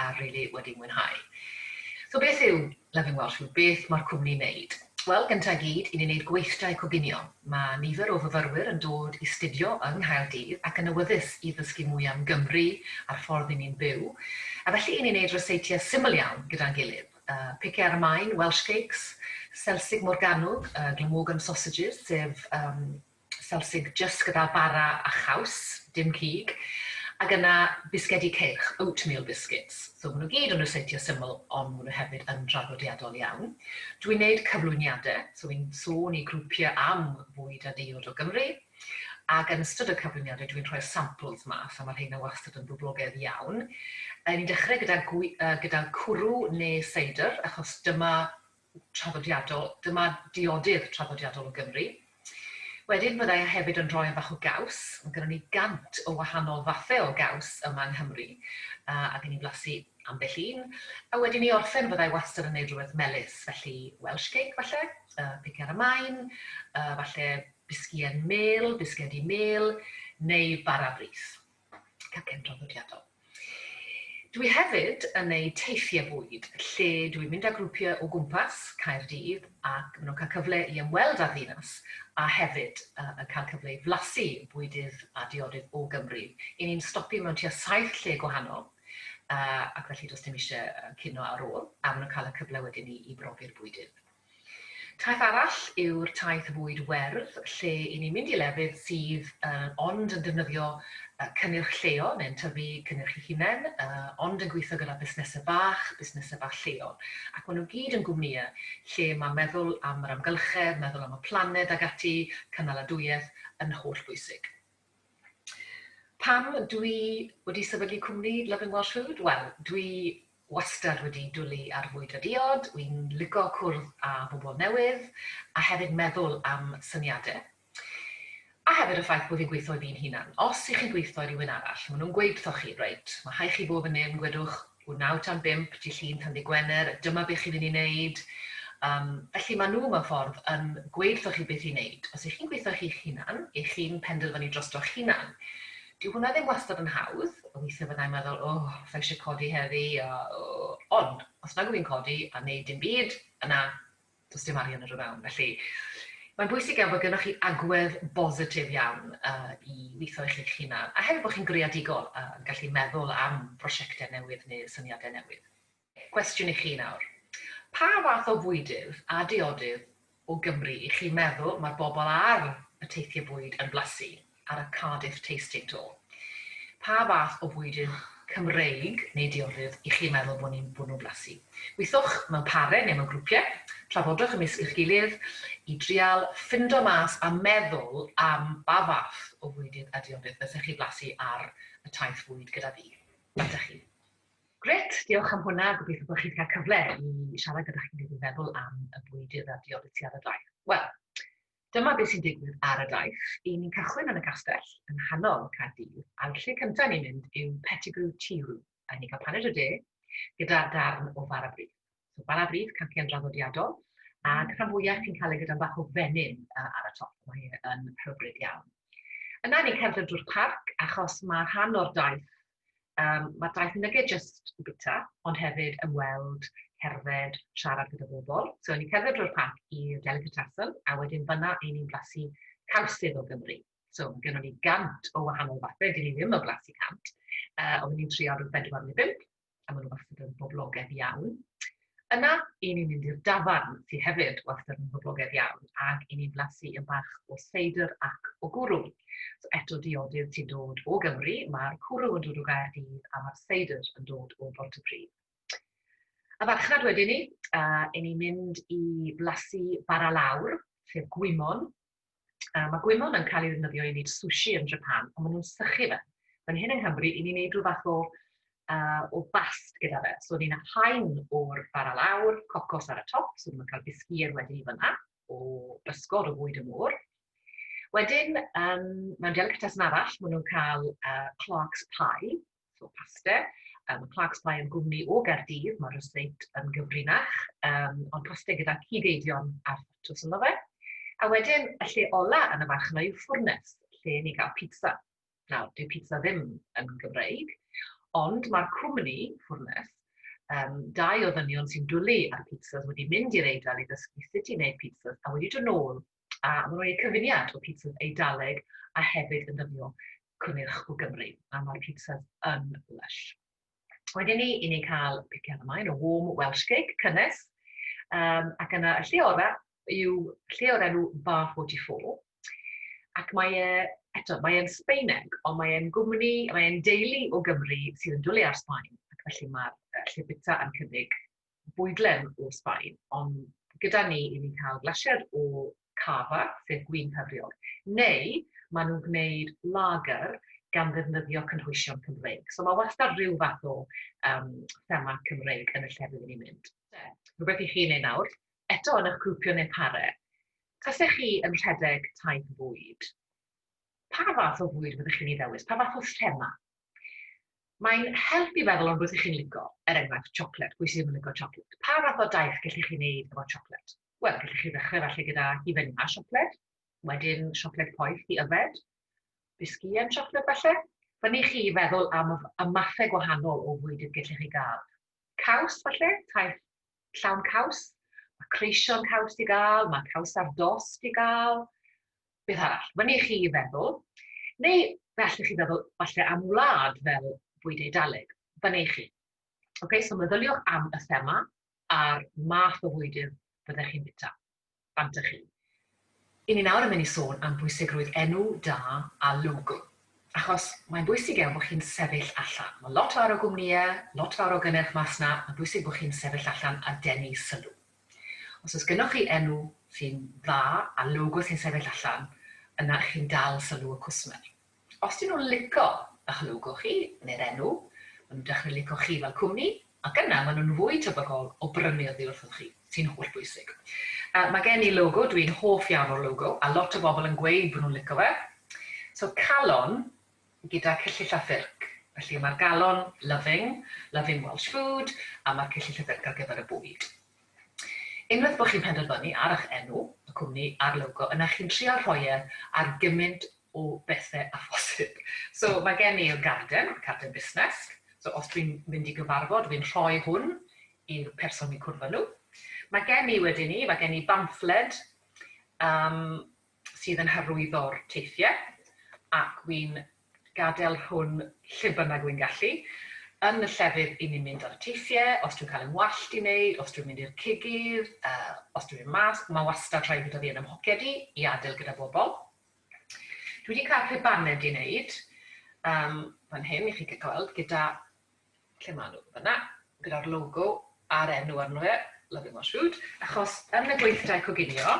a rili wedi mwynhau. So beth yw Loving Welsh Food? Beth mae'r cwmni yn neud? Wel, gynta i gyd, i ni'n neud gweithdai coginio. Mae nifer o fyfyrwyr yn dod i studio yng Nghaerdydd ac yn awyddus i ddysgu mwy am Gymru a'r ffordd i ni'n byw, a felly i ni'n neud ryseitiau syml iawn gyda'n gilydd. Uh, pice ar y maen, Welsh cakes, selsig morganwg, uh, glamorgan sausages, sef um, Selsig jyst gyda bara a chaws, dim cig, ac yna bisgedi ceirch, oatmeal biscuits. So maen nhw gyd yn ryseitio syml ond maen nhw hefyd yn draddodiadol iawn. Dwi'n neud cyflwyniade, so fi'n sôn i grwpie am fwyd a diod o Gymru, ac yn ystod y cyflwyniade dwi'n rhoi'r samples mas a ma rheina wastad yn boblogedd iawn. Ni'n dechrau gyda gwi- yy gyda cwrw neu seidr achos dyma traddodiadol, dyma diodydd traddodiadol o Gymru. Wedyn fydda i hefyd yn rhoi bach o gaws, mae gynnon ni gant o wahanol fathau o gaws yma yng Nghymru, a gen i blasu ambell un, a wedyn i orffen fydda i wastad yn gwneud rhywbeth melys, felly Welsh cake falle, uh, pic ar y maen, uh, falle bisgïen mêl, bisgedi mêl, neu bara brith. Cacen traddodiadol. Dwi hefyd yn neud teithie bwyd, lle dwi'n mynd â grwpie o gwmpas Caerdydd ac ma' nhw'n cael cyfle i ymweld â'r ddinas a hefyd yn cael cyfle i flasu bwydydd a diodydd o Gymru. I ni'n stopio mewn tua saith lle gwahanol ac felly does dim isie cino ar ôl a ma' nhw'n cael y cyfle wedyn i brofi'r bwydydd. Taith arall yw'r taith fwyd werdd lle i ni mynd i lefydd sydd ond yn defnyddio cynnyrch lleol neu'n tyfu cynnyrch i hunain ond yn gweithio gyda busnesau bach, busnesau bach lleol ac maen nhw gyd yn gwmnïau lle mae meddwl am yr amgylchedd, meddwl am y planed ac ati, cynaladwyedd, yn holl bwysig. Pam dwi wedi sefydlu cwmni Loving Welsh Food? Wel, dwi wastad wedi dwlu ar fwyd a diod, wi'n lico cwrdd â bobl newydd a hefyd meddwl am syniadau. A hefyd y ffaith bod fi'n gweithio i fi'n hunan. Os 'y chi'n gweithio i rywun arall, maen nhw'n gweud wrthoch chi, 'Reit, mae rhaid chi fod fan hyn, gwedwch Ŵyr naw tan bump Dy' Llun tan Ddy' Gwener, dyma be chi'n mynd i wneud. Yym, felly mae nhw mewn ffordd yn gweud wrthoch chi beth i wneud. Os y'ch chi'n gweithio ar chi'ch hunan, y'ch chi'n penderfynu drostoch hunan. Dyw hwnna ddim wastad yn hawdd, weithiau fydda i'n meddwl, O, sa i eisiau codi heddi, a o. Ond, os nag wyf fi'n codi a wneud dim byd, yna, Does dim arian ar y ddawn, felly mae'n bwysig iawn bod gennych chi agwedd bositif iawn uh, i weithio i chi'ch hunan, a hefyd bod chi'n greadigol uh, yn gallu meddwl am brosiectau newydd neu syniadau newydd. Cwestiwn i chi nawr. Pa fath o fwydydd a diodydd o Gymru i chi meddwl mae'r bobl ar y teithiau bwyd yn blasu? ar y Cardiff Tasting Tour. Pa fath o fwydyn Cymreig neu diorydd y'ch chi'n meddwl bod ni'n bwrw blasu? Gweithiwch mewn pare neu mewn grwpiau, trafodwch ymysg y'ch gilydd i drial ffindo mas a meddwl am ba fath o fwydydd a diorydd fysech chi blasu ar y taith fwyd gyda fi. Ydych chi? Grêt, diolch am hwnna, gobeithio bod chi wedi cael cyfle i siarad gyda chi'n gilydd i feddwl am y bwydydd a diorydd ti ar y daith. Wel, Dyma beth sy'n digwydd ar y daith. Y'n ni'n cychwyn yn y castell yng nghanol Caerdydd, a'r lle cyntaf i ni mynd yw Pettigrew Tea Room, y'n ni'n cael paned o de gyda darn o fara brith. So fara brith, cancian draddodiadol, ac rhan fwyaf chi'n cael ei gyda'n bach o fenyn ar y top, mae e yn hyfryd iawn. Yna ni'n cerdded drwy'r parc achos mae rhan o'r daith Um, mae daith yn nege jyst yn bita, ond hefyd ymweld, cerdded, siarad gyda bobl. So, ni'n cerdded drwy'r parc i'r Delicatessen, a wedyn fyna i ni'n blasu cawsydd o Gymru. So, mae gennym ni gant o wahanol fathau, dyn ni ddim yn blasu cant, uh, ond ni'n trio rhyw bedwar neu bimp, a maen nhw wastad yn boblogaidd iawn. Yna, i ni'n mynd i'r dafarn, sy hefyd wastad yn boblogaidd iawn, ac i ni'n blasu yn bach o seidr ac o gwrw. So eto diodydd sy'n dod o Gymru, mae'r cwrw yn dod o Gaerdydd a mae'r seidr yn dod o Bontypridd. Y farchnad wedyn ni, uh, i ni mynd i blasu bara lawr, sef gwymon, Uh, mae gwymon yn cael ei ddefnyddio i wneud sushi yn Japan, ond maen nhw'n sychu fe. Fan hyn yng Nghymru, i ni'n wneud rhyw fath o, uh, o bast gyda fe. So, ni'n haen o'r bara lawr, cocos ar y top, so ni'n cael bisgier wedi i fyna, o bysgod o fwyd y môr. Wedyn, um, mewn delicatessen arall, maen nhw'n cael uh, Clark's Pie, so paste. Um, Clark's Pie yn gwmni o Gaerdydd, mae'r ryseit yn gyfrinach, um, ond paste gyda cyd-eidion ar ffatws ynddo fe. A wedyn, y lle ola yn y farch yna yw ffwrnes, lle ni gael pizza. Nawr, dyw pizza ddim yn Gymreig, ond mae'r cwmni, ffwrnes, um, dau o ddynion sy'n dwlu ar pizzas wedi mynd i'r eidl i ddysgu sut i wneud pizzas a wedi dod nôl a maen nhw'n gwneud cyfuniad o pitsas Eidaleg a hefyd yn dyfnio cynnyrch o Gymru, a mae'r pitsas yn lysh. Wedyn ni, i ni'n cael piciad ymlaen o warm Welsh cake, cynnes, um, ac yna y lle orau yw lle o'r enw Bar 44, ac mae e eto, mae e'n Sbeineg, ond mae e'n gwmni, mae e'n deulu o Gymru sydd yn dwlu ar Sbaen, ac felly mae'r lle bita yn cynnig bwydlen o'r Sbaen, ond gyda ni i ni'n cael glasied o cava, sef gwin cyfriog, neu maen nhw'n gwneud lager gan ddefnyddio cynhwysion Cymreig. So mae wastad rhyw fath o um, thema Cymreig yn y llefydd rydyn ni'n mynd. Rhywbeth i chi yn ei nawr, eto yn eich grwpio neu pare, tasech chi yn rhedeg taith fwyd, pa fath o fwyd fyddech chi'n ei ddewis? Pa fath o thema? Mae'n help i feddwl am rwbeth i chi'n lico, er enghraifft chocolate, pwy sydd ddim yn lico chocolate? Pa fath o daith gellwch chi wneud efo chocolate? Wel, gellwch chi ddechrau falle gyda hufen a siocled, wedyn siocled poeth i yfed, bisgïen siocled falle, Fyny chi i feddwl am y mathau gwahanol o fwyd y gellwch chi gael. Caws, falle, taith llawn caws, mae creisio'n caws i gael, mae caws ar dost i gael, beth arall, mae'n i chi i feddwl. Neu fe allwch chi feddwl falle am wlad fel bwyd eidaleg, fan ei chi. Okay, so meddyliwch am y thema a'r math o fwydydd byddech chi'n bita. Fanta chi. I ni nawr yn mynd i sôn am bwysigrwydd enw da a logo. Achos mae'n bwysig iawn bod chi'n sefyll allan. Mae lot fawr o gwmnïe, lot fawr o gynnyrch mas 'na, mae'n bwysig bod chi'n sefyll allan a denu sylw. Os oes gynnoch chi enw sy'n dda a logo sy'n sefyll allan, yna chi'n dal sylw y cwsmer. Os dyn nhw'n lico ych logo chi, neu'r enw, maen nhw'n dechrau lico chi fel cwmni, ac yna maen nhw'n fwy tebygol o brynu oddi wrthoch chi, sy'n holl bwysig. Yy, mae gen i logo, dw i'n hoff iawn o'r logo, a lot o bobl yn gweud bod nhw'n lico fe. So, calon gyda cyllyll a ffyrc. Felly, mae'r galon loving, loving Welsh food, a mae'r cyllyll a ffyrc ar gyfer y bwyd. Unwaith bod chi'n penderfynu ar eich enw, y cwmni, a'r logo, yna chi'n trial rhoi e ar gymint o bethe a phosib. So ma' gen i'r garden, carden busnes, so os dwi'n mynd i gyfarfod fi'n rhoi hwn i'r person fi'n cwrdd â nhw. Ma' gen i wedyn i, ma' gen i bamffled um, sydd yn hyrwyddo'r teithiau ac wy'n gadael hwn lle bynnag wy'n gallu yn y llefydd i ni'n mynd ar y teithiau, os dwi'n cael yn wallt i wneud, os dwi'n mynd i'r cigydd, uh, os dwi'n mynd mas, mae wastad rhaid bod fi yn ymhoced i, i adael gyda bobl. Dwi wedi cael pe baned i neud yym fan hyn i chi gael gweld gyda, lle ma' nhw, fan'na, gyda'r logo a'r enw arno fe, Loving Welsh Food, achos yn y gweithdai coginio,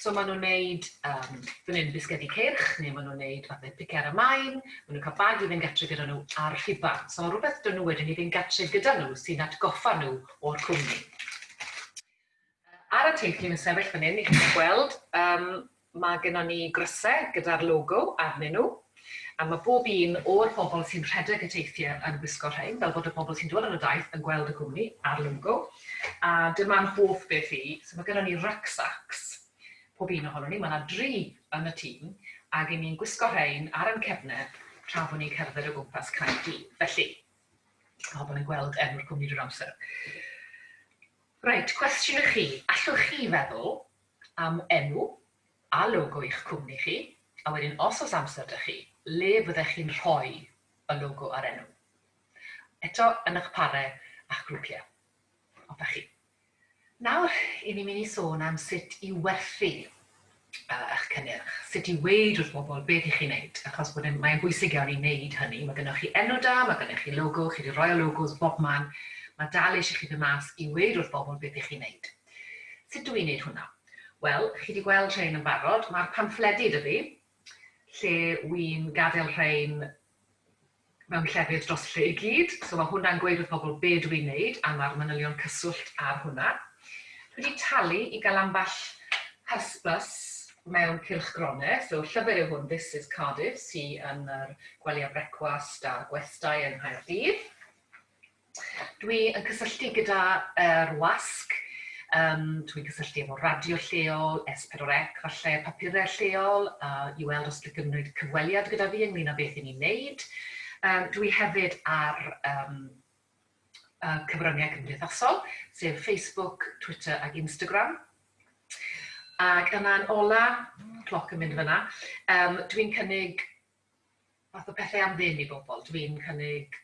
so ma' nhw'n neud yym fan hyn bisgedi ceirch, neu ma' nhw'n neud fathe pice ar y maen, ma' nhw'n cael bag i fynd gartre gyda nhw a'r rhuban, so rwbeth 'da nhw wedyn i fynd gartre gyda nhw sy'n atgoffa nhw o'r cwmni. Ar y teitl yn sefyll fan hyn i chi gweld yym ma' gynnon ni grysau gyda'r logo arnyn nhw a ma' bob un o'r bobl sy'n rhedeg y teithie yn gwisgo rhein fel bod y bobl sy'n dod ar y daith yn gweld y cwmni a'r logo a dyma'n hoff beth i so ma' gynnon ni rucksacks pob un ohonyn ni ma' 'na dri yn y tîm ag i ni'n gwisgo rhein ar yn cefne tra bo' ni'n cerdded o gwmpas Caerdydd felly ma' pobl yn gweld enw'r cwmni drwy'r amser. Reit, cwestiwn i chi, allwch chi feddwl am enw a logo i'ch cwmni chi, a wedyn os oes amser 'da chi, le fyddech chi'n rhoi y logo a'r enw? Eto, yn eich pare a'ch grwpiau. Hoffech chi? Nawr, 'yn ni'n mynd i sôn am sut i werthu. eich cynnyrch, sut i weud wrth bobl beth i chi wneud, achos bod e'n... mae'n bwysig iawn i wneud hynny. Mae gynnoch chi enw da, mae gynnoch chi logo, chi 'di roi y logos bobman, mae dal eisiau chi fynd mas i weud wrth bobl beth i chi wneud. Sut dw i'n wneud hwnna? Wel, chi 'di gweld rhein yn barod, mae'r pamffledi 'da fi, lle wi'n gadael rhein mewn llefydd dros lle i gyd, so mae hwnna'n gweud wrth pobl be dw i'n wneud a mae'r manylion cyswllt ar hwnna. Dwi wedi talu i gael ambell hysbys mewn cylchgronau, so llyfr yw hwn, This is Cardiff, sy yn yr gwely a brecwast a'r gwestai yng Nghaerdydd. Dwi yn cysylltu gyda yr wasg, um, dwi'n cysylltu efo radio lleol, S4C, falle papurau lleol, a i weld os dwi'n gymryd cyfweliad gyda fi ynglyn â beth i ni'n neud. Um, dwi hefyd ar um, uh, cyfryngau cymdeithasol, sef Facebook, Twitter ac Instagram. Ac yna'n ola, cloc yn mynd fyna, um, dwi'n cynnig fath o pethau am ddim i bobl. Dwi'n cynnig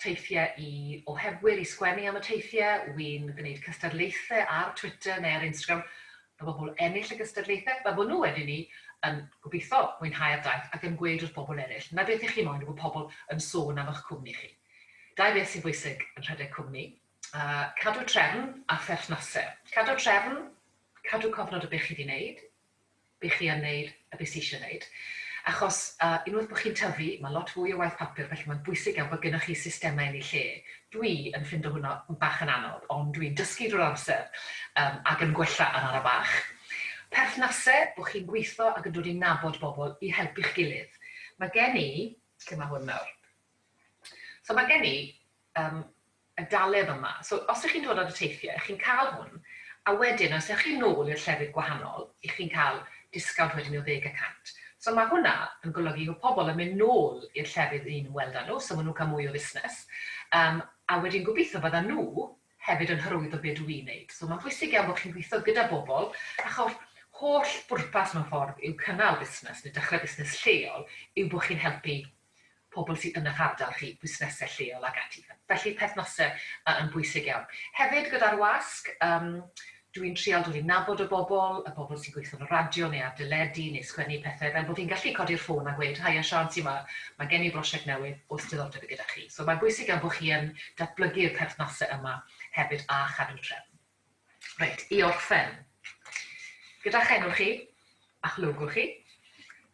teithiau i oherwyr i sgwennu am y teithiau, wi'n gwneud cystadlaethau ar Twitter neu ar Instagram, mae pobl ennill y gystadlaethau, mae hwnnw wedyn ni yn gobeithio mwynhau'r daith ac yn gweud wrth bobl eraill, 'na beth y'ch chi moyn yw bod pobl yn sôn am y'ch cwmni chi. Dau beth sy'n bwysig yn rhedeg cwmni, cadw trefn a pherthnasau. Cadw trefn, cadw cofnod o beth chi 'di 'neud, i chi a wneud y beth sy'isio wneud. Achos unwaith bod chi'n tyfu, mae lot fwy o waith papur felly mae'n bwysig iawn bod gennych chi systemau yn eu lle. Dwi yn ffindo hwnna bach yn anodd ond dwi'n dysgu drwy'r amser ac yn gwella arno bach. Perthnasau, bod chi'n gweithio ac yn dod i nabod bobl i helpu'ch gilydd. Mae gen i, lle mae hwn nawr? So mae gen i y daledd yma. So, os ych chi'n dod ar y teithiau, chi'n cael hwn, a wedyn os ewch chi nôl i'r llefydd gwahanol, ych chi'n cael disgawnt wedyn o ddeg y cant. So, mae hwnna yn golygu bod pobl yn mynd nôl i'r llefydd ry'n ni'n ymweld â nhw, so maen nhw'n cael mwy o fusnes, um, a wedyn gobeithio byddan nhw hefyd yn hyrwyddo be dw i'n neud. So, mae'n bwysig iawn bod chi'n gweithio gyda bobl, achos holl bwrpas mewn ffordd yw cynnal busnes neu dechrau busnes lleol yw bod chi'n helpu pobl sy yn eich ardal chi, busnesau lleol ac ati. Felly perthnasau yn bwysig iawn. Hefyd gyda'r wasg, yym dwi'n trial dod i nabod y bobl, y bobl sy'n gweithio yn y radio neu ar deledu neu sgwennu pethau fel bod fi'n gallu codi'r ffôn a gweud, haia Siân ti ma, mae gen i brosiect newydd, oes diddordeb i gyda chi? So mae'n bwysig iawn bod chi yn datblygu'r perthnasau yma hefyd a chadw trefn. Reit, i orffen, gyda'ch enw chi a'ch logo chi,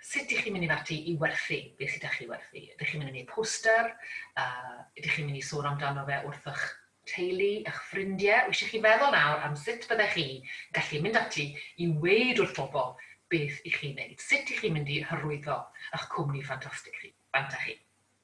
sut dych chi'n mynd i fynd ati i werthu beth sydd 'da chi i werthu? Ydych chi'n mynd i wneud poster? Uh, ydych chi'n mynd i sôn amdano fe wrth eich teulu, eich ffrindiau? Wisio chi feddwl nawr am sut byddech chi gallu mynd ati i weid wrth bobl beth i chi'n wneud? Sut ydych chi'n mynd i hyrwyddo eich cwmni ffantastig chi? Fanta chi?